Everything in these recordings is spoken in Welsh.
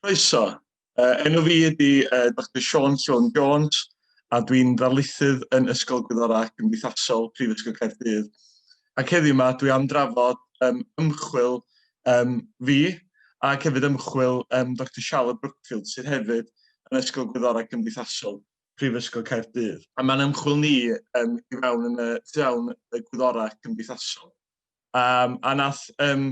Croeso. Uh, enw fi ydy uh, Dr Sean Sean Jones a dwi'n ddarlithydd yn Ysgol Gwyddorau ac Gymdeithasol Prifysgol Caerdydd. Ac heddiw yma dwi am drafod um, ymchwil um, fi ac hefyd ymchwil um, Dr Charlotte Brookfield sydd hefyd yn Ysgol Gwyddorau Cymdeithasol. Prifysgol Caerdydd. A mae'n ymchwil ni um, i fewn yn y tu awn y gwyddorau cymdeithasol. Um, a nath um,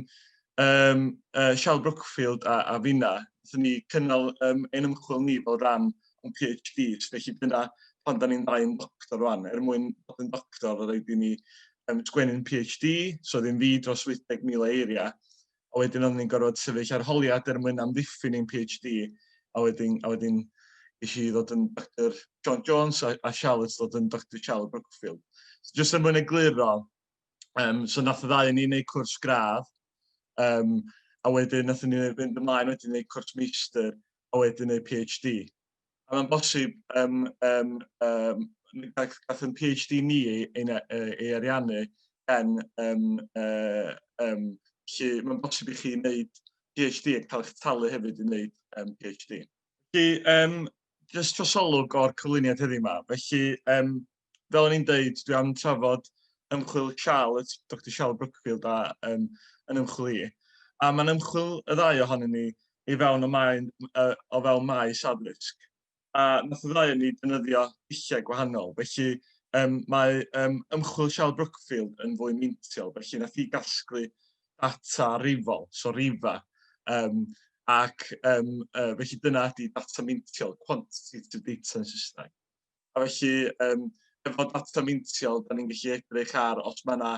um, uh, Sial Brookfield a, a finna, nath ni cynnal um, ein ymchwil ni fel rhan o'n PhD, so felly dyna pan da ni'n ddau yn doctor rwan, er mwyn bod yn doctor, roedd rhaid i ni um, sgwennu'n PhD, so ddim fi dros 80,000 eiriau, a wedyn oedden ni'n gorfod sefyll arholiad er mwyn amddiffyn ein PhD, a wedyn, a wedyn eisiau i ddod yn Dr John Jones a, a Charlotte ddod yn Dr Charlotte Brookfield. So, just er mwyn egluro, um, so nath y ddau yn ni'n gwneud cwrs gradd, um, a wedyn nath ni fynd ymlaen wedyn i gwneud cwrs meistr, a wedyn eu PhD. A mae'n bosib, um, um, um, gath yn PhD ni ei, ei, ei ariannu gen um, uh, um, Felly mae'n bosib i chi wneud PhD ac cael eich talu hefyd i wneud um, PhD. Felly, um, jyst trosolwg o'r cyflwyniad heddiw yma. Felly, um, fel o'n i'n deud, dwi am trafod ymchwil Charlotte, Dr Charlotte Brookfield a um, yn ymchwil i. A mae'n ymchwil y ddau ohonyn ni i fewn o, mae, uh, o fewn maes addysg. A nath y ddau yn ni dynyddio dulliau gwahanol. Felly um, mae um, ymchwil Charlotte Brookfield yn fwy meintiol. Felly nath i gasglu data rifol, so rifa. Um, ac um, uh, felly dyna ydy data meintiol, quantitative data yn Saesneg. A felly, um, efo data meintiol, da ni'n gallu edrych ar os mae yna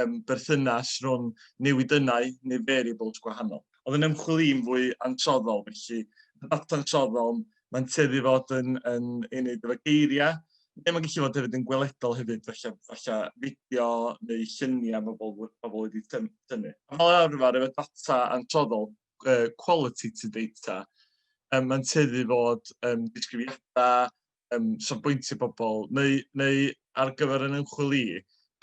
um, berthynas rhwng newidynau neu variables gwahanol. Oedd yn ymchwil i'n fwy ansoddol, felly data ansoddol, mae'n tueddu fod yn, yn ei wneud efo geiriau, neu mae'n gallu fod hefyd yn gweledol hefyd, felly, felly fideo neu lluniau mae bobl, bobl wedi tynnu. Fel arfer, efo data ansoddol, uh, quality to data. Um, mae'n tyddu fod um, disgrifiadau, um, safbwyntiau pobl, neu, neu ar gyfer yn ymchwil i,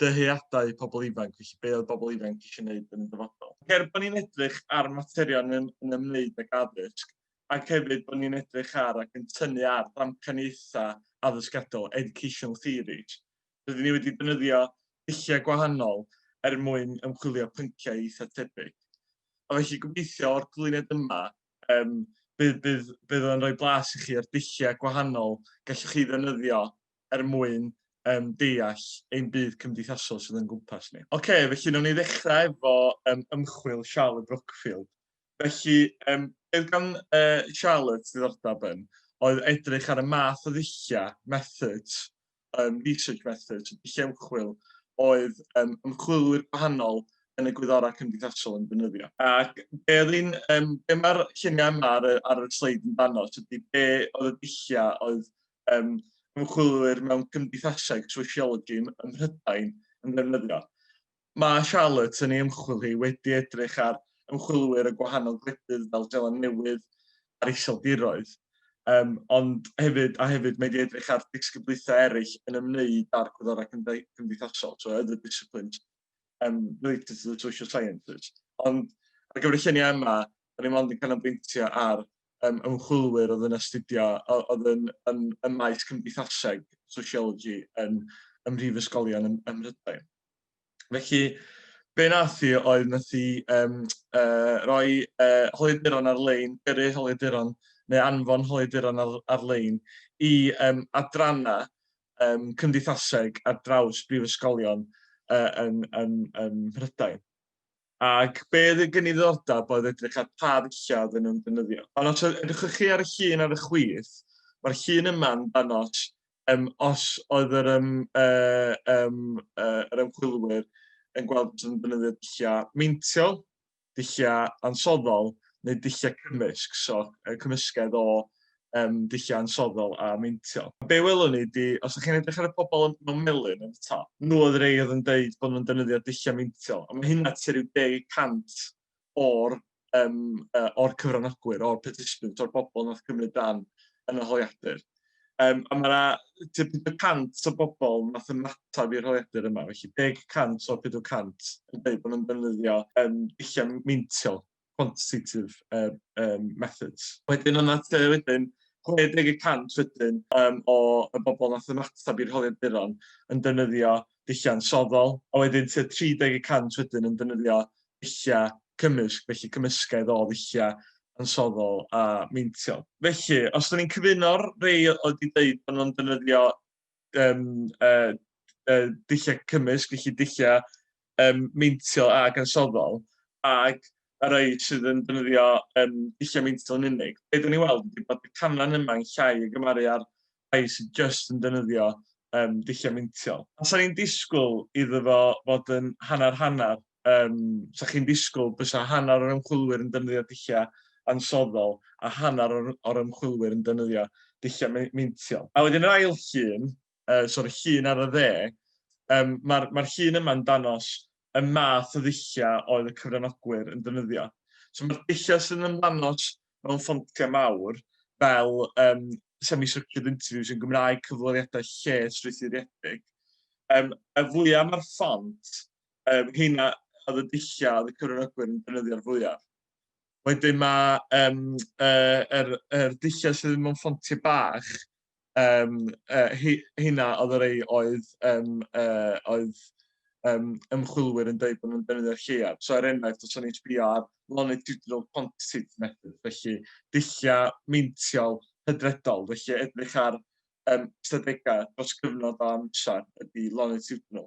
dyheadau pobl ifanc, felly be oedd pobl ifanc eisiau gwneud yn y dyfodol. Cer bod ni'n edrych ar materion yn, yn ymwneud ag addysg, ac hefyd bod ni'n edrych ar ac yn tynnu ar ddamcaniaethau addysgadol, educational theories, Rydyn ni wedi defnyddio dulliau gwahanol er mwyn ymchwilio pynciau eitha' tebyg. A felly gobeithio o'r cyflwyniad yma yym bydd bydd bydd o'n rhoi blas i chi o'r dulliau gwahanol gallwch chi ddefnyddio er mwyn um, deall ein byd cymdeithasol sydd o'n gwmpas ni. Oce, okay, felly nawn ni ddechrau efo um, ymchwil Charlotte Brookfield. Felly, um, beth gan uh, Charlotte ddiddordeb yn oedd edrych ar y math o ddulliau, methods, um, research methods, dulliau ymchwil, oedd um, ymchwilwyr gwahanol yn y gwyddorau cymdeithasol yn defnyddio. Ac be oedd un, um, be mae'r lluniau yma ar, ar y sleid yn dano, ydy be oedd y dulliau oedd um, ymchwilwyr mewn cymdeithaseg, sociology, ym Mhrydain yn defnyddio. Mae Charlotte yn ei ymchwil hi wedi edrych ar ymchwilwyr y gwahanol gwledydd fel Seland Newydd a'r Iseldiroedd, um, ond hefyd, a hefyd mae wedi edrych ar disgyblaethau eraill yn ymwneud â'r gwyddorau cymdeithasol, so other disciplines um, related to the social sciences. Ond ar gyfer y lluniau yma, da ni mond yn canolbwyntio ar um, ymchwilwyr oedd yn astudio, oedd yn, yn, yn maes cymdeithaseg, sociology, yn, ym mhrifysgolion ym, ym Mhrydain. Felly, be nath i oedd nath i um, uh, roi uh, holiaduron ar-lein, gyrru holiaduron neu anfon holiaduron ar, ar-lein i um, adranna um, cymdeithaseg ar draws brifysgolion uh, yn, yn, yn Mhrydain. Ac be oedd y gyniddordeb oedd edrych ar pa ddulliau oedden nhw'n defnyddio. Ond os edrychwch chi ar y llun ar y chwith, mae'r llun yma yn danos um, os oedd yr, um, uh, um, uh, yr ymchwilwyr yn gweld bod yn defnyddio dulliau meintiol, dulliau ansoddol neu dulliau cymysg, so uh, cymysgedd o um, dulliau ansoddol a meintio. Be welwn ni di, os ydych chi'n edrych ar y pobl yn mewn melyn yn y top, nhw oedd rei oedd yn dweud bod nhw'n defnyddio dulliau meintio, a mae hynna tua'r 10% o'r, um, uh, or cyfranogwyr, o'r participants, o'r bobl nath cymryd dan yn y holiadur. Um, a mae yna 50% o bobl nath ymateb i'r holiadur yma, felly 10% o'r 50% yn dweud bod nhw'n defnyddio um, dulliau meintio quantitative yym yym methods. Wedyn yn at yy wedyn 60 y cant wedyn yym o y bobl wnaeth ymateb i'r holiaduron yn defnyddio dulliau soddol, a wedyn tua 30 y cant wedyn yn defnyddio dulliau cymysg, felly cymysgedd o ddulliau ansoddol a meintiol. Felly, os 'da ni'n cyfuno'r rhai oedd wedi deud bod nhw'n defnyddio yym yy yy dulliau cymysg, felly dulliau yym meintiol ac ansoddol, ac y rhai sydd yn defnyddio yym dulliau meintiol yn unig. Be dan ni'n weld ydy bod y canran yma yn llai o gymaru â'r rhai sydd jyst yn defnyddio um, dulliau meintiol. A sa'n ni'n disgwyl iddo fo fod yn hanner-hanner? um, sa chi'n disgwyl bysa hanner o'r ymchwilwyr yn defnyddio dulliau ansoddol a hanner o'r, or ymchwilwyr yn defnyddio dulliau meintiol. A wedyn yr ail llun, uh, so'r llun ar y dde, um, mae'r ma llun yma'n danos y math o ddulliau oedd y cyfranogwyr yn defnyddio. So mae'r dulliau sy'n ymlanos mewn ffontiau mawr fel um, semi-structured interviews yn Gymraeg, cyflwyniadau lle strwythuriedig. Um, y fwyaf mae'r ffont Um, heina oedd y dulliau oedd y cyfranogwyr yn defnyddio'r fwyaf. Wedyn mae um, uh, er, er dulliau sydd mewn ffontiau bach, um, uh, hynna oedd y rei oedd, um, uh, oedd um, ymchwilwyr yn dweud bod nhw'n defnyddio'r lleiaf. So er enghraifft, os o'n i'n sbio ar longitudinal quantitative method, felly dulliau meintiol hydredol, felly edrych ar um, ystadegau dros gyfnod o amser ydy longitudinal.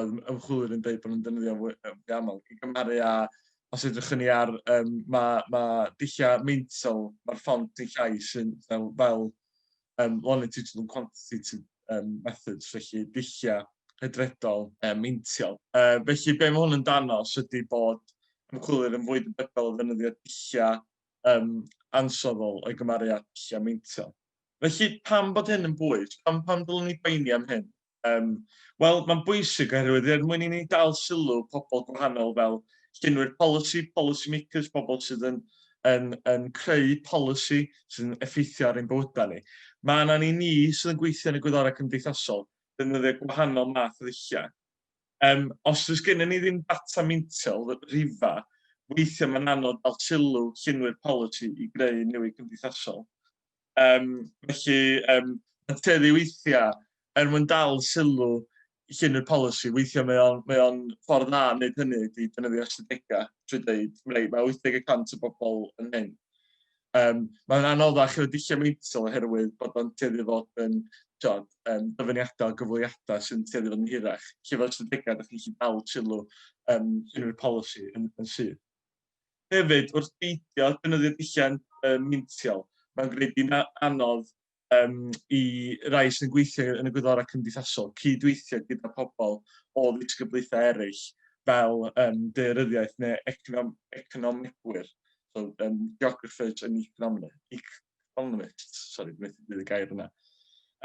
oedd ymchwilwyr yn dweud bod nhw'n defnyddio fwy, fwy aml, i gymharu â os edrych ni ar, um, mae ma dulliau meintiol, mae'r ffont dulliau sy'n fel, fel um, longitudinal quantitative um, methods, felly dulliau hydredol um, meintiol. Uh, felly, be mae hwn yn danos ydy bod ymchwilwyr yn fwy debygol o ddefnyddio dulliau um, ansoddol o'i gymaru â dulliau meintiol. Felly, pam bod hyn yn bwys? Pam, pam dylwn ni boeni am hyn? Um, Wel, mae'n bwysig oherwydd er mwyn i ni dal sylw pobl gwahanol fel llunwyr polisi, policy makers, pobl sydd yn, yn, yn creu polisi sy'n effeithio ar ein bywydau ni. Mae yna ni ni sydd yn gweithio yn y gwyddorau cymdeithasol, defnyddio gwahanol math o ddulliau. Um, os oes gennym ni ddim data meintiol rhifa, weithiau mae'n anodd dal sylw llunwyr polisi i greu newid cymdeithasol. Um, felly, um, adfeddu weithiau, er mwyn dal sylw llun y polisi, weithiau mae o'n, mae on ffordd dda yn gwneud hynny ydy defnyddio ystadegau trwy dweud, mae 80% o bobl yn hyn. Um, mae'n anoddach efo dulliau meintiol oherwydd bod o'n tueddu fod yn tiod, um, dyfyniadau o gyfweliadau sy'n tueddu fod yn hirach. Lle fel ystadegau, ydych chi'n gallu dal sylw um, unrhyw polisi yn, yn sydd. Hefyd, wrth beidio defnyddio dulliau um, mintiol, mae'n gwneud di'n anodd um, i rai sy'n gweithio yn y gwyddorau cymdeithasol cydweithio gyda pobl o ddisgyblaethau eraill fel um, deiryddiaeth neu econom economegwyr, so, um, geographers and economists. Economist, sori, dwi'n methu dweud y gair yna.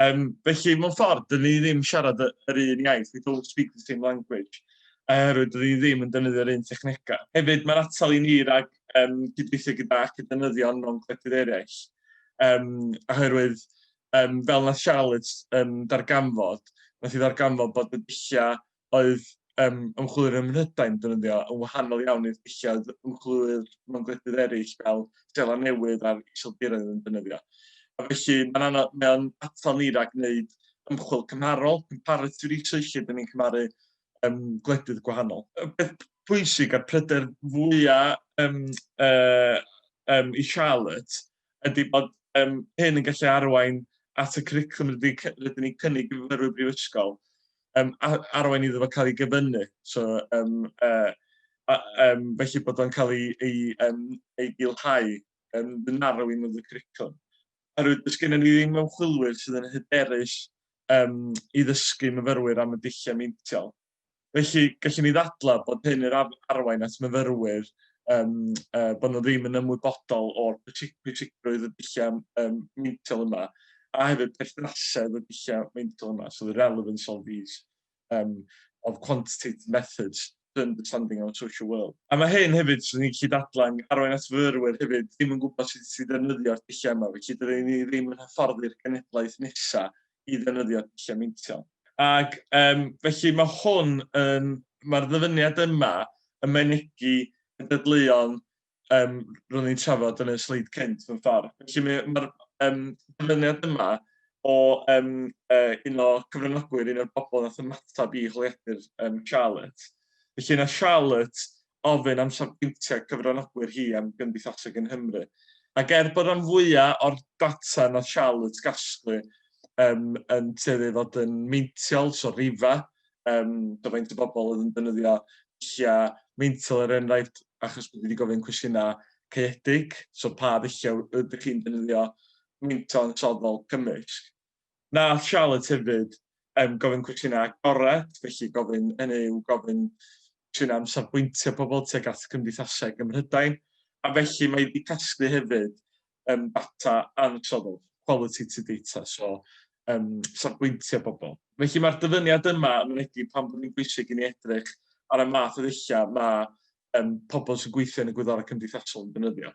Um, felly, mewn ffordd, dyn ni ddim siarad yr un iaith, we don't speak the same language, oherwydd dyn ni ddim yn defnyddio'r un technegau. Hefyd, mae'n atal i ni rhag um, gydweithio gyda academyddion mewn gwledydd eraill, um, oherwydd, um, fel na Charlotte um, darganfod, nath i ddarganfod bod y dulliau oedd um, ymchwilwyr ym Mhrydain defnyddio yn wahanol iawn i'r dulliau ymchwilwyr mewn gwledydd eraill fel Stela Newydd a'r Iseldiroedd yn defnyddio. A felly mae'n anodd, mae'n atal ni rhag wneud ymchwil cymharol, comparative research, lle dyn ni'n cymaru um, gwledydd gwahanol. Y peth pwysig a'r pryder fwyaf um, uh, um, i Charlotte ydy bod um, hyn yn gallu arwain at y curriculum rydyn ni'n cynnig i fyfyrwyr brifysgol, um, arwain iddo fo cael ei gyfynnu. So, um, uh, um, felly bod o'n cael ei, ei, um, ei gilhau, um, the narrowing of the curriculum. Oherwydd, dys gennym ni ddim ymchwilwyr sydd yn hyderus um, i ddysgu myfyrwyr am y dulliau meintiol. Felly, gallwn ni ddadlau bod hyn yr arwain at myfyrwyr um, uh, bod nhw ddim yn ymwybodol o'r pwysigrwydd y dulliau um, meintiol yma, a hefyd perthnasedd y dulliau meintiol yma, so the relevance of these um, of quantitative methods to understanding our social world. A mae hyn hefyd, sy'n ni'n gallu dadlau, arwain at fyrwyr hefyd, ddim yn gwybod sut sy'n ddefnyddio'r dulliau yma, felly dydyn ni ddim yn hyfforddi'r genedlaeth nesaf i ddefnyddio dulliau meintiol. Ac um, felly mae hwn yn, mae'r ddyfyniad yma yn mynegi y dadleuon um, ro'n ni'n trafod yn y sleid cynt mewn ffordd. Felly mae'r mae um, dyfyniad yma o um, uh, un o cyfranogwyr, un o'r bobl nath ymateb i holiadur um, Charlotte. Felly yna Charlotte ofyn am safbwyntiau cyfranogwyr hi am gymdeithaseg yng Nghymru. Ac er bod rhan fwya' o'r data nath Charlotte gasglu yym yn tueddu i fod yn meintiol, so rhifa, yym so faint o bobl oedd yn defnyddio dullia' meintiol er enghraifft achos bod hi 'di gofyn cwestiyna' caeedig, so pa ddullia' ydych chi'n defnyddio meinto ansoddol cymysg? Wnaeth Charlotte hefyd um, gofyn cwestiynau agored, felly gofyn yn eu gofyn cwestiynau am safbwyntiau pobl tuag at gymdeithaseg ym Mhrydain, a felly mae wedi casglu hefyd um, data ansoddol, qualitative data, so um, safbwyntiau pobl. Felly mae'r dyfyniad yma yn mynegi pan bod yn bwysig i ni edrych ar y math o ddulliau mae um, pobl sy'n gweithio yn y gwyddorau cymdeithasol yn defnyddio.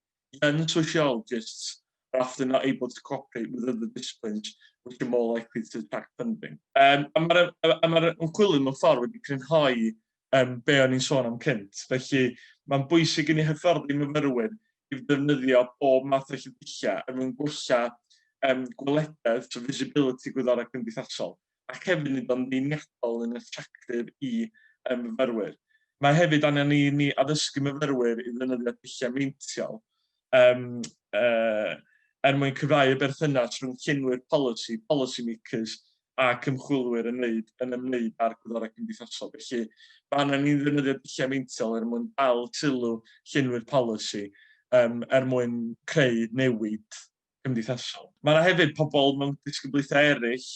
Young sociologists are often not able to cooperate with other disciplines which are more likely to attract funding. Um, a mae'r ma ymchwilydd mewn ffordd wedi crynhoi um, be o'n i'n sôn am cynt. Felly mae'n bwysig i ni hyfforddi myfyrwyr i ddefnyddio bob math o llydilliau er mwyn gwella um, gwelededd, so visibility gwyddorau cymdeithasol, ac hefyd nid ond einiadol yn atractif i y myfyrwyr. Mae hefyd angen i ni addysgu myfyrwyr i ddefnyddio dulliau meintiol um, uh, er mwyn cyfrau y berthynas rhwng llenwyr polisi, policy makers, a cymchwilwyr yn wneud yn ymwneud â'r gwyddorau cymdeithasol. Felly, mae angen i ni ddefnyddio dulliau meintiol er mwyn dal sylw llenwyr polisi, um, er mwyn creu newid cymdeithasol. Mae yna hefyd pobl mewn disgyblaethau eraill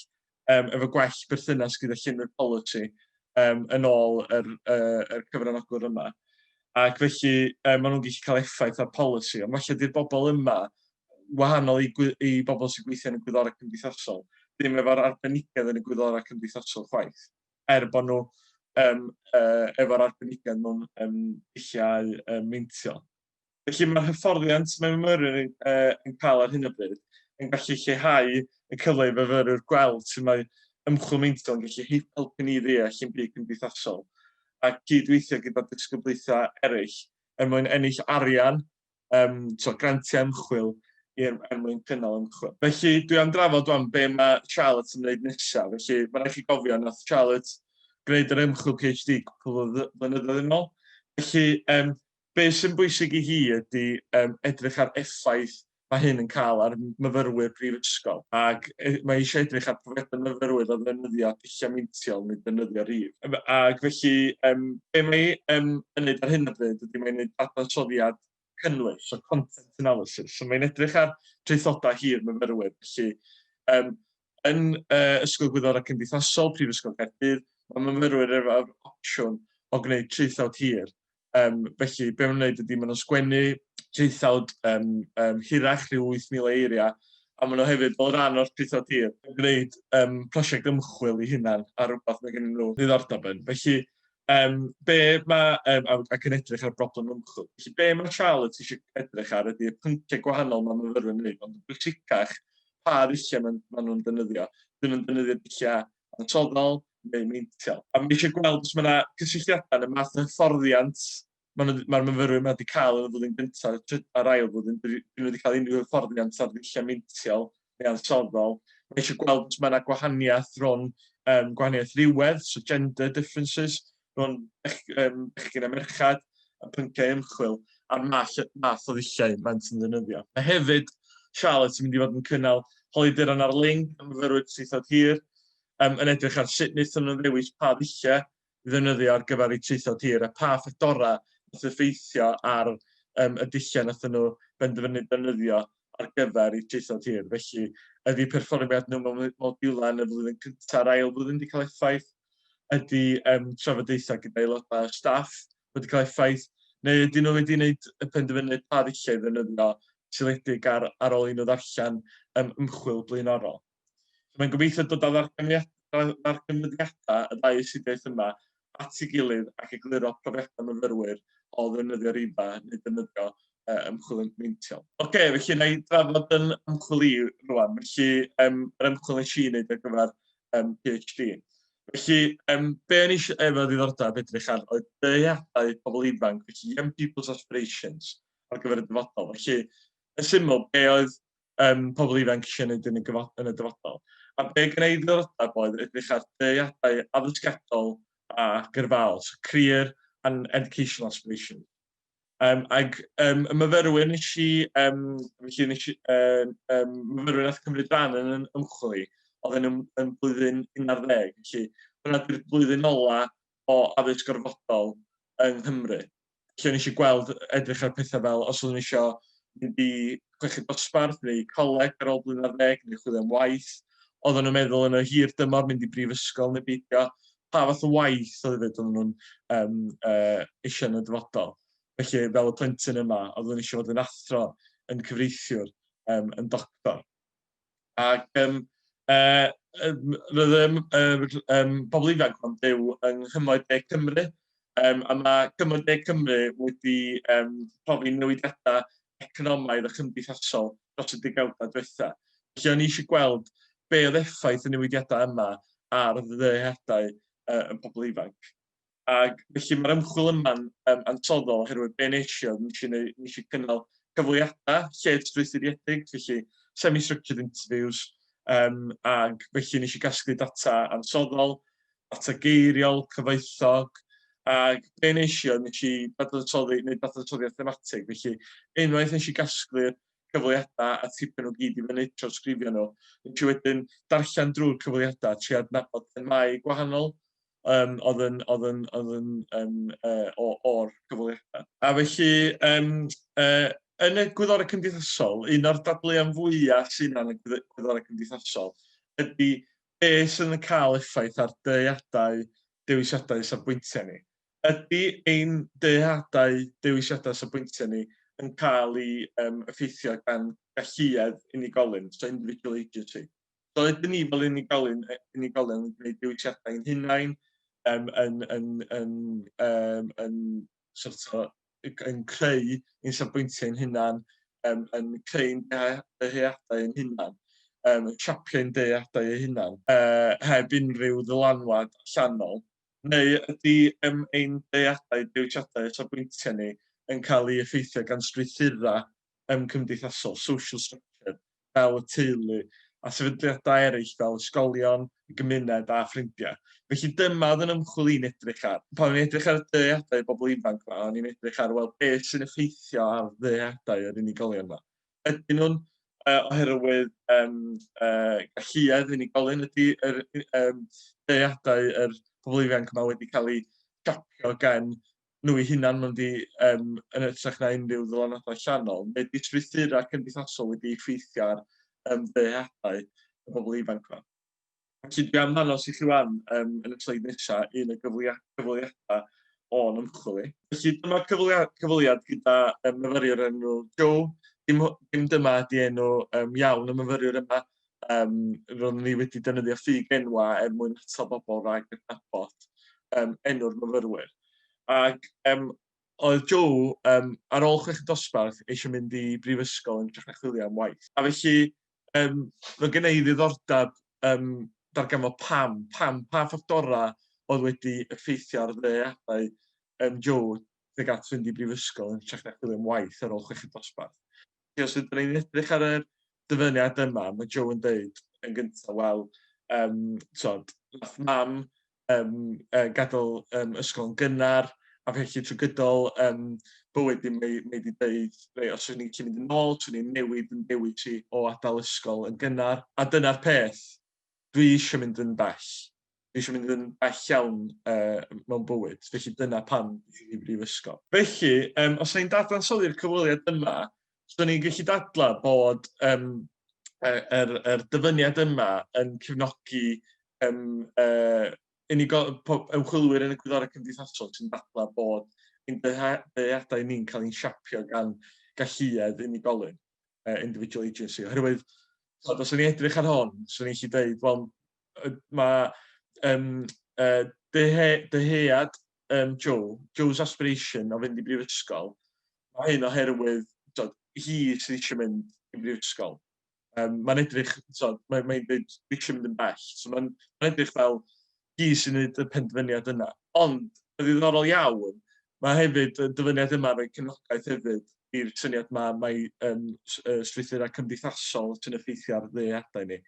um, efo gwell berthynas gyda llunwyr polisi um, yn ôl yr, uh, yr cyfranogwr yma. Ac felly um, maen nhw'n gallu cael effaith ar polisi, ond felly dy'r bobl yma, wahanol i, i bobl sy'n gweithio yn y gwyddorau cymdeithasol, ddim efo'r arbenigedd yn y gwyddorau cymdeithasol chwaith, er bod nhw um, uh, efo'r arbenigedd mewn um, dulliau um, meintiol. Felly mae'r hyfforddiant mae myfyrwyr yn, uh, yn cael ar hyn o bryd yn gallu lleihau y cyfle i fyfyrwyr gweld sy'n mae ymchwil meintiol yn gallu helpu ni ddeall yn byd cymdeithasol a gydweithio gyda disgyblaethau eraill er mwyn ennill arian, um, so grantiau ymchwil er, er mwyn cynnal ymchwil. Felly dwi am drafod o'n be mae Charlotte yn gwneud nesaf. Felly mae rhaid chi gofio na Charlotte gwneud yr ymchwil PhD cwpl o flynyddoedd yn ôl. Felly um, Be sy'n bwysig i hi ydy yym edrych ar effaith ma' hyn yn ca'l ar myfyrwyr prifysgol ac yy mae eisiau edrych ar profiadau myfyrwyr o ddefnyddio dulliau meintiol neu defnyddio rhif. Yym ac felly yym be mae yym yn neud ar hyn o bryd ydy mae'n neud dadansoddiad cynnwys, so content analysis. So mae'n edrych ar traethodau hir myfyrwyr. Felly yym yn yy Ysgol Gwyddorau Cymdeithasol Prifysgol Caerdydd mae myfyrwyr efo'r opsiwn o gwneud traethawd hir Um, felly, be maen nhw'n gwneud ydy, maen nhw'n sgwennu traethawd um, um, hirach, rhyw 8,000 eiriau, a maen nhw hefyd fel rhan o'r traethawd hir, yn gwneud um, prosiect ymchwil i hunan ar rhywbeth mae gen nhw ddiddordeb yn. Felly, um, be mae, um, ac yn edrych ar broblem ymchwil. Felly, be mae Charlotte eisiau edrych ar ydy y pynciau gwahanol mae myfyrwyr yn gwneud, ond yn bwysicach pa ddulliau maen, maen nhw'n defnyddio. Dyn nhw'n defnyddio dulliau ansoddol neu meintiol. A mae eisiau gweld os mae yna gysylltiadau yn y math o hyfforddiant mae'r myfyrwyr yma wedi cael yn y flwyddyn gyntaf a'r ail flwyddyn, dyn nhw wedi cael unrhyw hyfforddiant ar ddulliau meintiol neu ansoddol. Mae eisiau gweld os mae yna gwahaniaeth rhwng um, gwahaniaeth rhywedd, so gender differences, rhwng um, bechgyn a merchad, a pynciau ymchwil, a'r math, math o ddulliau mae'n sy'n ddefnyddio. A hefyd, Charlotte yn mynd i fod yn cynnal holiaduron ar ling am fyfyrwyr traethod hir, um, yn edrych ar sut wnaethon nhw'n ddewis pa ddulliau i ddefnyddio ar gyfer eu traethod hir a pa ffactorau wnaeth effeithio ar um, y dulliau wnaethon nhw benderfynu defnyddio ar gyfer eu traethod hir. Felly, ydy perfformiad nhw mewn modiwlau yn y flwyddyn cyntaf a'r ail flwyddyn wedi cael effaith? ydy um, trafodaethau gyda aelodau o staff wedi cael effaith, neu ydyn nhw wedi gwneud y penderfyniad pa ddulliau ddefnyddio seledig ar, ar ôl i nhw ddarllen um, ymchwil blaenorol. So, mae'n gobeithio dod â ddarganfyddiadau y ddau ysidiaeth yma at ei gilydd ac egluro profiadau myfyrwyr o ddefnyddio rifa neu ddefnyddio uh, ymchwil yn meintiol. Oce, okay, felly na i drafod yn ymchwil i rwan. Felly, um, yr ymchwil nes i wneud ar gyfer um, PhD. Felly, um, be o'n eisiau efo ddiddordeb edrych ar oedd dyheadau pobl ifanc, felly Young People's Aspirations ar gyfer y dyfodol. Felly, yn syml, be oedd um, pobl ifanc eisiau gwneud yn y, yn y dyfodol. A be gen i ddiddordeb oedd edrych ar dyheadau addysgedol a gyrfaol, so career and educational aspirations. Um, ac um, y myfyrwyr nes i, um, felly nes i, um, um, myfyrwyr nath cymryd rhan yn yn ymchwil i, oedd yn, yn blwyddyn 11, felly hwnna di'r blwyddyn ola o addysg gorfodol yng Nghymru. Felly nes i gweld edrych ar pethau fel os oeddwn eisiau mynd i chweched dosbarth neu coleg ar ôl blwyddyn ar ddeg neu chwilio am waith. Oedden nhw'n meddwl yn y hir dymor mynd i brifysgol neu beidio. pa fath o waith oedd hefyd oedden nhw'n um, uh, eisiau yn y dyfodol. Felly, fel y plentyn yma, oeddwn eisiau fod yn athro, yn cyfreithiwr, um, yn doctor. Ac um, uh, roedd um, um, pobl ifanc yn byw yng Nghymroedd De Cymru, um, a mae Cymroedd De Cymru wedi um, profi newidiadau economaidd a chymdeithasol dros y degawdau diwetha'. Felly o'n i eisiau gweld be' oedd effaith y newidiadau yma ar ddyheadau y pobl ifanc. Ac felly mae'r ymchwil yma'n um, ansoddol oherwydd be' nes i oedd nes i, neu, nes i cynnal cyfweliadau lled strwythuriedig, felly semi-structured interviews, um, ac felly nes i gasglu data ansoddol, datageiriol, cyfoethog, ac be nes i oedd nes i dadansoddi, neu dadansoddiad thematig, felly unwaith nes i gasglu'r cyfweliadau a tipyn o gyd i fyny, trawsgrifio nhw, nes i wedyn darllen drwy'r cyfweliadau, tri adnabod themau gwahanol um, oedd yn, oedd yn, oedd yn um, uh, o'r cyfweliadau. A felly, um, uh, yn y gwyddorau cymdeithasol, un o'r dadleuon fwyaf sy'n yn y gwyddorau cymdeithasol ydy be sydd yn cael effaith ar dyheadau dewisiadau safbwyntiau ni? Ydy ein dyheadau dewisiadau safbwyntiau ni yn cael ei um, effeithio gan galluedd unigolyn, so individual agency? So ydyn ni fel unigolyn, unigolyn yn gwneud dewisiadau ein hunain, um, yn, yn, yn, um, yn sort o, yn creu ein safbwyntiau ein hunan, um, yn creu ein dyheadau ein hunan, um, yn siapio ein dyheadau ein hunan, uh, heb unrhyw ddylanwad allanol? Neu ydy um, ein dyheadau, dewisiadau a safbwyntiau ni yn cael ei effeithio gan strwythurau yym cymdeithasol, social structure, fel y teulu a sefydliadau eraill fel ysgolion, y gymuned a ffrindiau. Felly dyma oedd yn ymchwil i'n edrych ar. Pan o'n i'n edrych ar y dyheadau y bobl ifanc yma, o'n i'n edrych ar, wel, beth sy'n effeithio ar ddyheadau yr unigolion yma. Ydyn nhw'n uh, oherwydd um, uh, galluedd unigolyn ydy yr um, deiadau yr pobl ifanc yma wedi cael eu siapio gan nhw eu hunain mae'n di um, yn ytrach na unrhyw ddylanwadau llanol. Mae distrwythurau cymdeithasol wedi effeithio ar um, ddyheadau y bobl ifanc yma. Felly dwi am hanos i chi wan um, yn y sleid nesaf un o gyfweliadau o'n ymchwil i. Felly dyma cyfweliad gyda um, myfyriwr enw Joe. Dim, dim dyma ydi enw um, iawn y myfyriwr yma, Um, roeddwn ni wedi defnyddio ffug enwa er mwyn atal bobl rhag adnabod um, enw'r myfyrwyr. Ac um, oedd Joe, um, ar ôl chwech dosbarth, eisiau mynd i brifysgol yn drach na chwilio am waith. A felly, um, fe gen i ddiddordeb um, darganfod pam, pam, pa ffactorau oedd wedi effeithio ar ddeadau um, Joe tuag at fynd i brifysgol yn trach na chwilio am waith ar ôl chwech dosbarth. Felly os ydyn ni'n edrych ar y dyfyniad yma, mae Joe yn dweud yn gyntaf, wel, um, tod, nath mam um, uh, gadael um, ysgol yn gynnar, a felly trwy gydol um, bywyd i mae, mae wedi dweud, rei, os ydyn ni'n gallu mynd yn ôl, swn ni'n newid yn dewis i o adael ysgol yn gynnar. A dyna'r peth, dwi eisiau mynd yn bell. Dwi eisiau mynd yn bell iawn uh, mewn bywyd, felly dyna pan dwi'n i brifysgol. Felly, um, os ni'n dadansoddi'r cyfweliad yma, so ni'n gallu dadla bod um, yr, er, er dyfyniad yma yn cefnogi um, uh, unigol, ymchwilwyr yn y gwyddorau cymdeithasol sy'n dadla bod ein dyheadau ni'n cael ein siapio gan galluedd unigolyn. uh, individual agency, oherwydd tod, os o'n i'n edrych ar hon, swn i'n lli dweud, wel, mae um, uh, dyhe, dyhead um, Joe, Joe's aspiration o fynd i brifysgol, mae hyn oherwydd tod, hi sydd eisiau mynd i brifysgol. Um, mae'n edrych, tod, mae'n mae dweud, eisiau mynd yn bell. So mae'n mae edrych fel, hi sy'n gwneud y penderfyniad yna. Ond, yn ddiddorol iawn, mae hefyd y dyfyniad yma yn rhoi cefnogaeth hefyd i'r syniad yma mae um, strwythurau cymdeithasol sy'n effeithio ar ddeadau ni.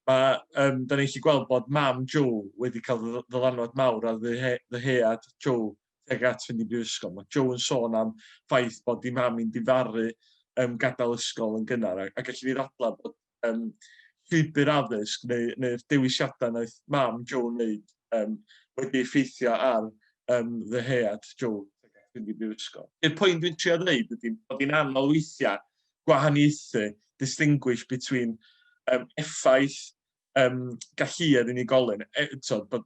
Mae, um, da ni'n chi gweld bod mam Joe wedi cael ddylanwad mawr ar ddyhead Joe tuag at fynd i brifysgol. Mae Joe yn sôn am ffaith bod di mam i'n difaru um, gadael ysgol yn gynnar, a, a gallu ni ddadlau bod yym, llwybr addysg neu, neu'r dewisiadau wnaeth mam Joe wneud um, wedi effeithio ar um, ddyhead Joe fynd i brifysgol. I'r pwynt dwi'n trio dweud ydy bod hi'n anodd weithiau gwahaniaethu, distinguish between um, effaith um, galluedd unigolyn, e, so, bod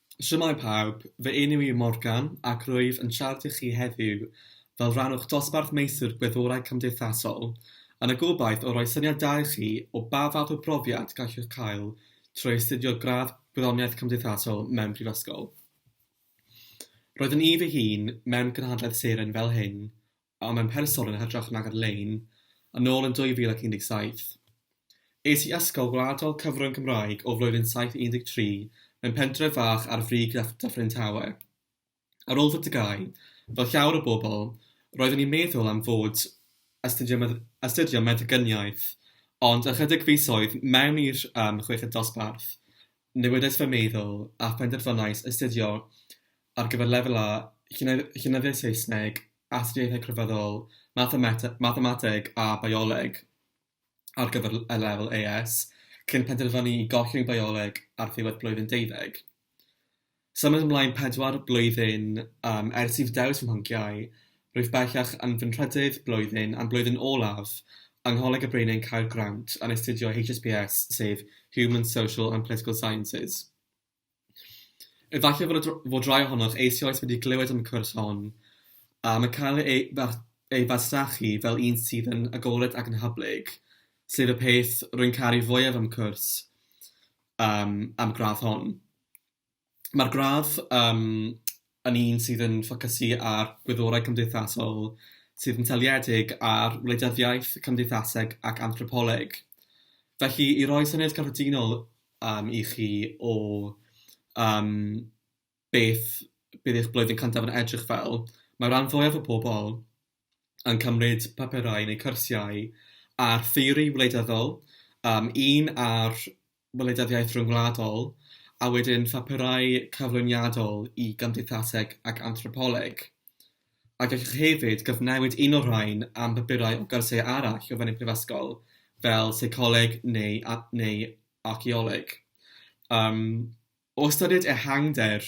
Shwmae pawb, fy enw i yw Morgan ac rwyf yn siarad i chi heddiw fel rhan o'ch dosbarth Meistr Gwyddorau Cymdeithasol, yn y gobaith o roi syniad da i chi o ba fath o brofiad gallwch cael trwy astudio gradd Gwyddoniaeth Cymdeithasol mewn prifysgol. Roeddwn i fy hun mewn cynhadledd seren fel hyn a mewn person yn hytrach nag ar-lein, yn ôl yn 2017. Es i Ysgol Gwladol Cyfrwng Cymraeg o flwyddyn 7 i 13 mewn pentref fach ar frig Dyffryn Tawe. Ar ôl fy TGAU, fel llawer o bobl, roeddwn i'n meddwl am fod astudio astudio meddyginiaeth, ond ychydig fisoedd mewn i'r chweched dosbarth, newidais fy meddwl a phenderfynais astudio ar gyfer Lefel A, Llenyddiaeth Saesneg, Astudiaethau Crefyddol, Mathemateg a Bioleg ar gyfer y Lefel AS, cyn penderfynu i gollwng Bioleg ar ddiwedd blwyddyn deuddeg. Symud ymlaen pedwar blwyddyn um, ers i fi dewis fy mhlynciau, rwyf bellach yn fy nhrydydd blwyddyn a'n blwyddyn olaf yng Ngholeg y Bryn yn cael grant yn astudio HSPS sef Human, Social and Political Sciences. Efallai fod y fod rhai ohonoch eisioes wedi clywed am y cwrs hon, a mae cael ei ei fasnachu fel un sydd yn agored ac yn hyblyg, sef y peth rwy'n caru fwyaf am y cwrs, yym, am y gradd hon. Mae'r gradd, yym, yn un sydd yn ffocysu ar gwyddorau cymdeithasol sydd yn seiliedig ar wleidyddiaeth, cymdeithaseg ac anthropoleg. Felly, i roi syniad cyffredinol um, i chi o um, beth bydd eich blwyddyn cyntaf yn edrych fel, mae rhan fwyaf o pobl yn cymryd papurau neu cyrsiau ar theori wleidyddol, yym un ar wleidyddiaeth ryngwladol, a wedyn phapurau cyflwyniadol i gymdeithaseg ac anthropoleg. A gallwch hefyd gyfnewid un o'r rhain am bapurau o gyrsiau arall o fewn ein prifysgol, fel seicoleg neu a- neu archaeoleg. Yym, o ystyried ehangder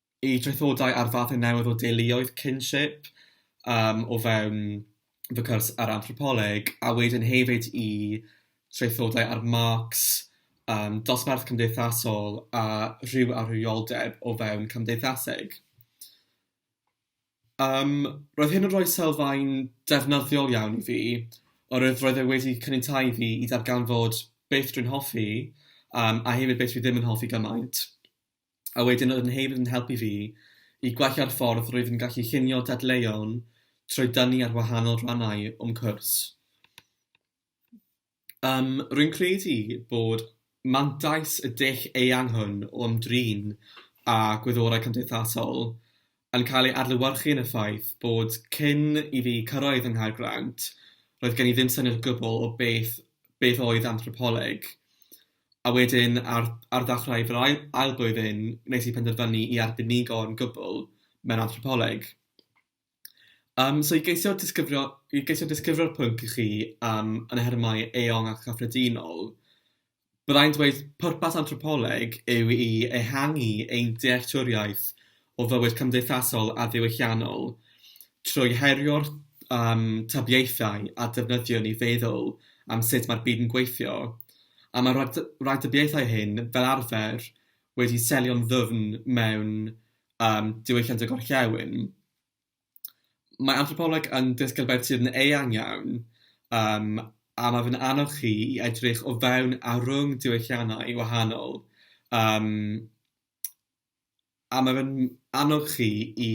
i draethodau ar fathau newydd o deuluoedd, kinship, um, o fewn fy cwrs ar anthropoleg, a wedyn hefyd i traethodau ar Marx, um, dosbarth cymdeithasol a rhyw arwyoldeb o fewn cymdeithaseg. Um, roedd hyn yn rhoi sylfaen defnyddiol iawn i fi, oherwydd roedd e wedi cynnytau fi i ddarganfod beth dwi'n hoffi, um, a hefyd beth dwi ddim yn hoffi gymaint. a wedyn oedd yn hefyd yn helpu fi i gwella'r ffordd rwyf yn gallu llunio dadleuon trwy dynnu ar wahanol rannau o'm cwrs. Yym, rwy'n credu bod mantais y dull eang hwn o ymdrin â gwyddorau cymdeithasol yn cael ei adlewyrchu yn y ffaith bod cyn i fi cyrraedd yng Nghaergrawnt, roedd gen i ddim syniad o gwbl o beth beth oedd anthropoleg. A wedyn, ar ar ddechrau fy ail ail blwyddyn, wnes i penderfynu i arbenigo'n gwbl mewn anthropoleg. Yym, so i geisio disgrifio i geisio disgrifio'r pwnc i chi yym yn nhermau eang a chyffredinol, Byddai'n dweud pwrpas anthropoleg yw i ehangu ein dealltwriaeth o fywyd cymdeithasol a diwylliannol trwy herio'r um, tybiaethau a defnyddiwn i feddwl am sut mae'r byd yn gweithio, a mae'r rhagdybiaethau hyn, fel arfer, wedi selio'n ddwfn mewn um, diwylliant y gorllewin. Mae anthropoleg yn ddisgyblaeth sydd yn eang iawn, yym, a mae fe'n annog chi i edrych o fewn a rhwng diwylliannau wahanol, yym, a mae fe'n annog chi i,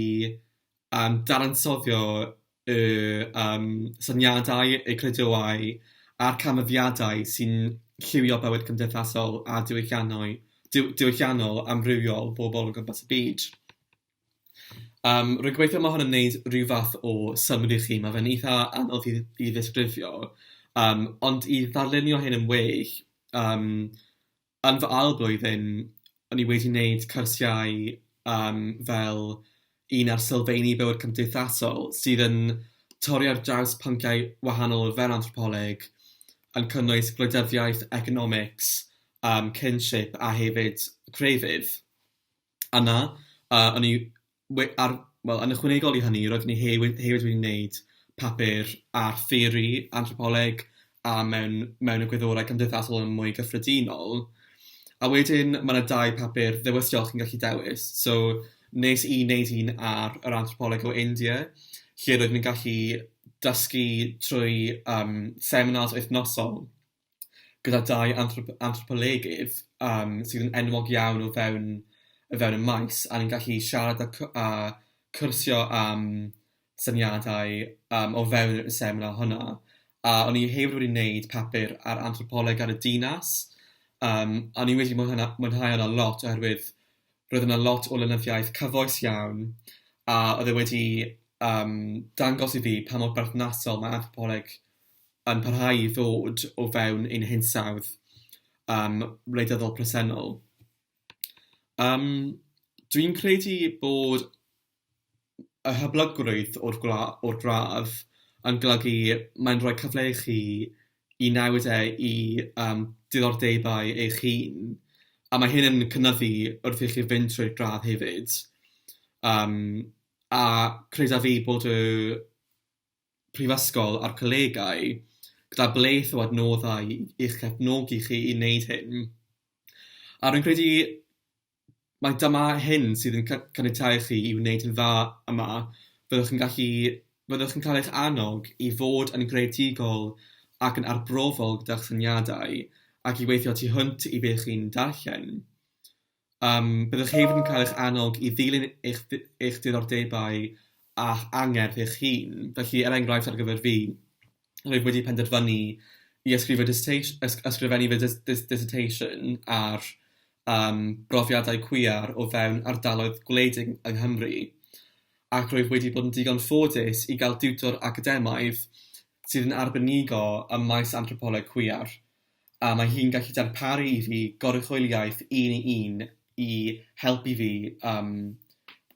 yym, dadansoddio y, yym, syniadau, y credoau a'r canfyddiadau sy'n lliwio bywyd cymdeithasol a diwylliannau... diw- diwylliannol amrywiol pobl o gwmpas y byd. Yym, rwy'n gobeithio mae hwn yn wneud rhyw fath o synnwyr i chi. Mae fe'n eitha anodd i i ddisgrifio, yym, ond i ddarlunio hyn yn well, yym, yn fy ail flwyddyn, o'n i wedi wneud cyrsiau, yym, fel un ar sylfeini bywyd cymdeithasol, sydd yn torri ar draws pynciau wahanol o fewn anthropoleg, yn cynnwys gwleidyddiaeth, economics, yym, kinship a hefyd crefydd. yna, a o'n i we- ar... wel, yn ychwanegol i hynny, roeddwn i he- we- hefyd wedi wneud papur ar theori anthropoleg a mewn mewn egwyddorau cymdeithasol yn mwy gyffredinol. A wedyn, ma' 'na dau papur ddewisol chi'n gallu dewis. So, wnes i wneud un ar yr anthropoleg o India, lle roeddwn i'n gallu dysgu trwy yym seminars wythnosol gyda dau anthrop- anthropolegydd yym sydd yn enwog iawn o fewn o fewn y maes, a ni'n gallu siarad a cw- a cwrsio am syniadau yym o fewn y seminar hwnna. A o'n i hefyd wedi wneud papur ar anthropoleg ar y dinas, yym a o'n i wedi mwynha- mwynhau hwnna lot oherwydd roedd yna lot o lenyddiaeth cyfoes iawn, a oedd e wedi yym dangos i fi pa mor berthnasol mae anthropoleg yn parhau i ddod o fewn ein hinsawdd yym wleidyddol presennol. Yym, dwi'n credu bod y hyblygrwydd o'r gwla- o'r gradd yn golygu mae'n rhoi cyfle i chi i newid e i yym diddordebau eich hun, a mae hyn yn cynyddu wrth i chi fynd trwy'r gradd hefyd, yym a credaf fi bod y Prifysgol a'r colegau gyda blith o adnoddau i'ch cefnogi chi i wneud hyn. A rwy'n credu mai dyma hyn sydd yn caniatáu chi i wneud yn dda yma, byddwch yn gallu... byddwch yn cael eich annog i fod yn greadigol ac yn arbrofol gyda'ch syniadau ac i weithio tu hwnt i be chi'n darllen. Yym, byddwch hefyd yn cael eich annog i ddilyn eich eich diddordebau a'ch angerdd eich hun. Felly, er enghraifft, ar gyfer fi, rwyf wedi penderfynu i ysgrifo dissertat- ysg- ysgrifennu fy dys- dys- dissertation ar yym brofiadau cwiar o fewn ardaloedd gwledig yng Nghymru, ac rwyf wedi bod yn ddigon ffodus i gael diwtor academaidd sydd yn arbenigo ym maes anthropoleg cwiar. a mae hi'n gallu darparu i fi goruchwyliaeth un i un i helpu fi yym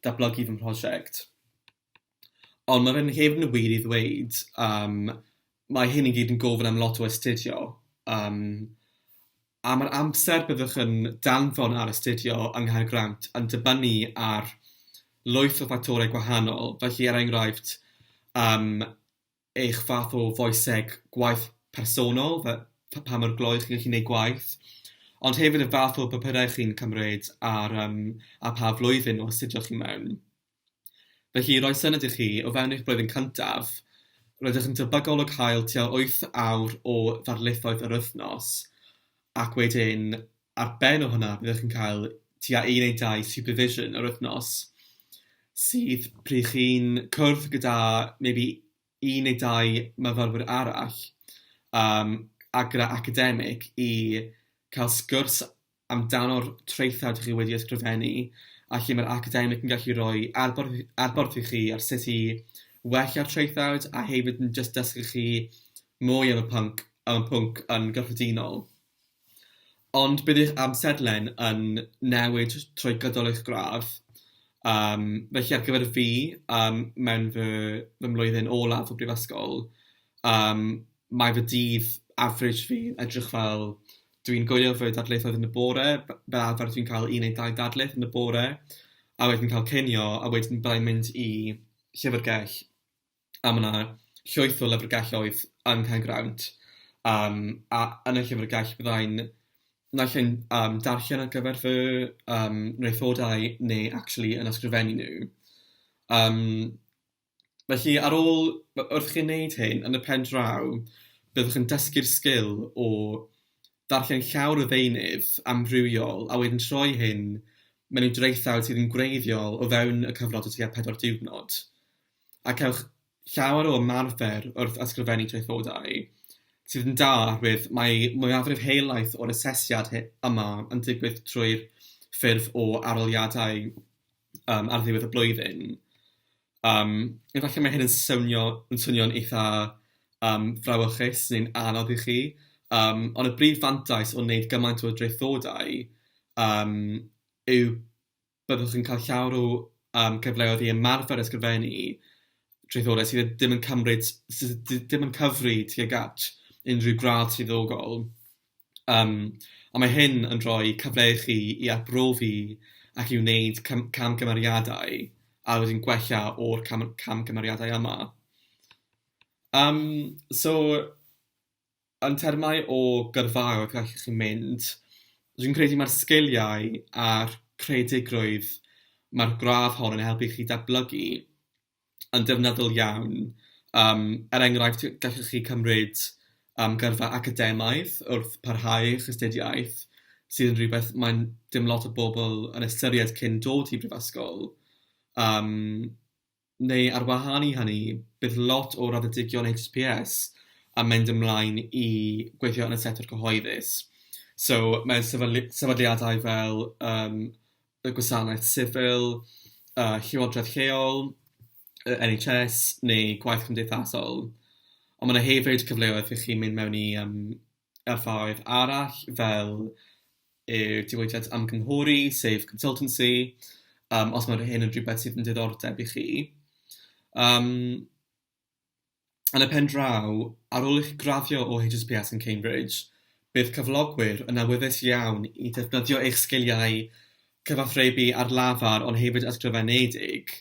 datblygu fy mhrosiect. Ond ma' fe'n hefyd yn wir i ddweud yym mae hyn i gyd yn gofyn am lot o astudio yym a ma'r amser byddwch yn danfon ar astudio yng Nghaergrawnt yn dibynnu ar lwyth o ffactorau gwahanol, felly er enghraifft yym eich fath o foeseg gwaith personol, fe- pa mor glou chi'n gallu gwneud gwaith, ond hefyd y fath o bapurau chi'n cymryd ar um, a pa flwyddyn o astudio chi mewn. Felly, roi syniad i chi, o fewn eich blwyddyn cyntaf, rydych yn debygol o cael tua 8 awr o ddarlithoedd yr wythnos, ac wedyn Ar ben o hwnna, byddwch yn cael tua un neu dau supervision yr wythnos, sydd pryd chi'n cwrdd gyda maybe un neu dau myfyrwyr arall yym a gyda academig i cael sgwrs amdano'r traethau dych chi wedi ysgrifennu a lle mae'r academig yn gallu rhoi adborth adborth i chi ar sut i wella'r traethawd a hefyd yn jyst dysgu chi mwy am y pwnc am y pwnc yn gyffredinol. Ond bydd eich amserlen yn newid trwy gydol eich gradd, yym, felly ar gyfer fi, yym, mewn fy fy mlwyddyn olaf o brifysgol, yym, mae fy dydd average fi yn edrych fel, dwi'n gwylio fy darlithoedd yn y bore, f- fel arfer dwi'n cael un neu dau darlith yn y bore, a wedyn cael cinio, a wedyn byddai'n mynd i llyfrgell. a ma' 'na llwyth o lyfrgelloedd yn Cae Grawnt, yym a yn y llyfrgell fyddai'n naill ai'n yym darllen ar gyfer fy yym nythodau neu actually yn ysgrifennu nhw. Yym felly ar ôl w- wrth chi neud hyn yn y pen draw byddwch yn dysgu'r sgil o darllen llawr o ddeunydd amrywiol a wedyn troi hyn mewn i draethawd sydd yn gwreiddiol o fewn y cyfnod o tua pedwar diwrnod. A cewch llawer o ymarfer wrth ysgrifennu traethodau, sydd yn da oherwydd mae mwyafrif helaeth o'r asesiad yma yn digwydd trwy'r ffurf o arholiadau yym ar ddiwedd y blwyddyn. Yym efallai mae hyn yn swnio yn swnio'n eitha yym frawychus neu'n anodd i chi yym ond y brif fantais o wneud gymaint o draethodau yym yw byddwch yn cael llawer o yym cyfleoedd i ymarfer a ysgrifennu traethodau sydd dd- ddim yn cymryd s- s- d- dim yn cyfri tuag at unrhyw gradd swyddogol. Yym, ond mae hyn yn rhoi cyfle i chi i arbrofi ac i wneud cam- camgymeriadau a wedyn gwella o'r cam- camgymeriadau yma. Yym, so, yn termau o gyrfaoedd gallwch chi mynd, dwi'n credu mae'r sgiliau a'r creadigrwydd mae'r gradd hon yn helpu chi datblygu yn defnyddol iawn, yym, er enghraifft, gallwch chi cymryd yym gyrfa academaidd wrth parhau eich astudiaeth, sydd yn rhywbeth mae'n... dim lot o bobl yn ystyried cyn dod i brifysgol, yym, neu ar wahân i hynny, bydd lot o raddedigion HSPS yn mynd ymlaen i gweithio yn y sector cyhoeddus, so mae sefydlu- sefydliadau fel yym y gwasanaeth sifil, y llywodraeth lleol, y NHS neu gwaith cymdeithasol. Ond mae 'na hefyd cyfleoedd i chi mynd mewn i yym yrfaoedd arall fel y diwydiant ymgynghori, sef consultancy yym os mae hyn yn rhywbeth sydd yn diddordeb i chi yym. Yn y pen draw, ar ôl i chi graddio o HSPS yn Cambridge, bydd cyflogwyr yn awyddus iawn i ddefnyddio eich sgiliau cyfathrebu ar lafar ond hefyd ysgrifenedig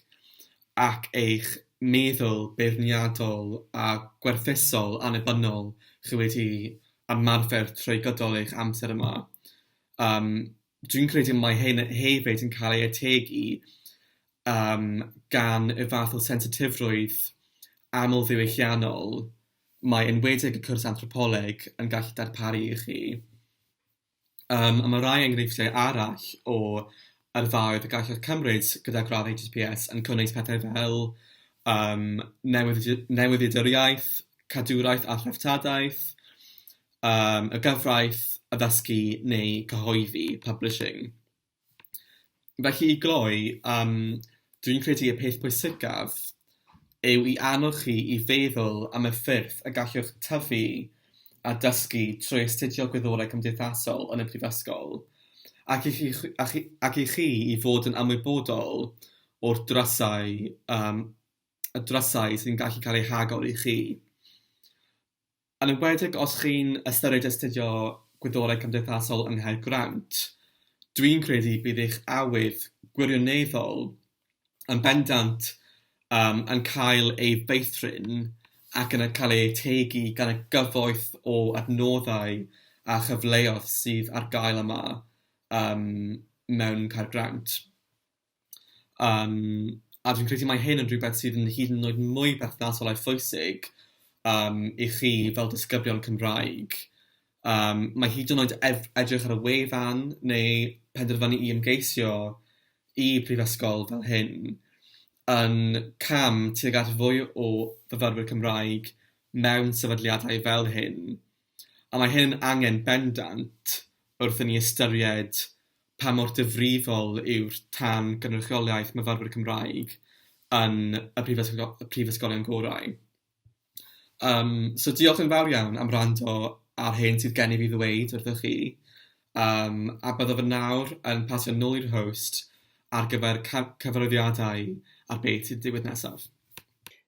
ac eich meddwl beirniadol a gwerthuso'l annibynnol chi wedi ymarfer trwy gydol eich amser yma. Yym. dwi'n credu mae hyn hefyd yn cael ei ategu um, gan y fath o sensitifrwydd amlddiwylliannol mae enwedig y cwrs anthropoleg yn gallu darparu i chi. Um, a mae rhai enghreifftiau arall o arfaoedd y gallwch cymryd gyda gradd HSPS yn cynnwys pethau fel um, newyddiaduriaeth, cadwraeth a threftadaeth, yym y gyfraith addysgu neu cyhoeddi, publishing. Felly i gloi, yym dwi'n credu y peth pwysicaf yw i annog chi i feddwl am y ffyrdd y gallwch tyfu a dysgu trwy astudio Gwyddorau Cymdeithasol yn y Brifysgol, ac i chi a chi ac i chi i fod yn ymwybodol o'r drysau yym y drysau sy'n gallu cael eu hagor i chi. Yn enwedig os chi'n ystyried astudio Gwyddorau Cymdeithasol yng Nghaergrawnt, dwi'n credu bydd eich awydd gwirioneddol yn bendant yym yn cael ei feithrin ac yn cael ei ategu gan y gyfoeth o adnoddau a chyfleoedd sydd ar gael yma yym mewn Caergrawnt. Yym, a dwi'n credu mai hyn yn rhywbeth sydd yn hyd yn oed mwy perthnasol a phwysig yym i chi fel disgyblion Cymraeg. Yym, mae hyd yn oed ef- edrych ar y wefan neu penderfynu i ymgeisio i prifysgol fel hyn yn cam tuag at fwy o fyfyrwyr Cymraeg mewn sefydliadau fel hyn. a mae hyn yn angen bendant wrth i ni ystyried pa mor ddifrifol yw'r tan gynrychiolaeth myfyrwyr Cymraeg yn y prifysgol- prifysgolion gorau. Yym, so diolch yn fawr iawn am wrando ar hyn sydd gennyf i ddweud wrthych chi, yym, a byddaf yn nawr yn pasio nôl i'r host ar gyfer ca- cyfarwyddiadau ar beth sy'n digwydd nesaf.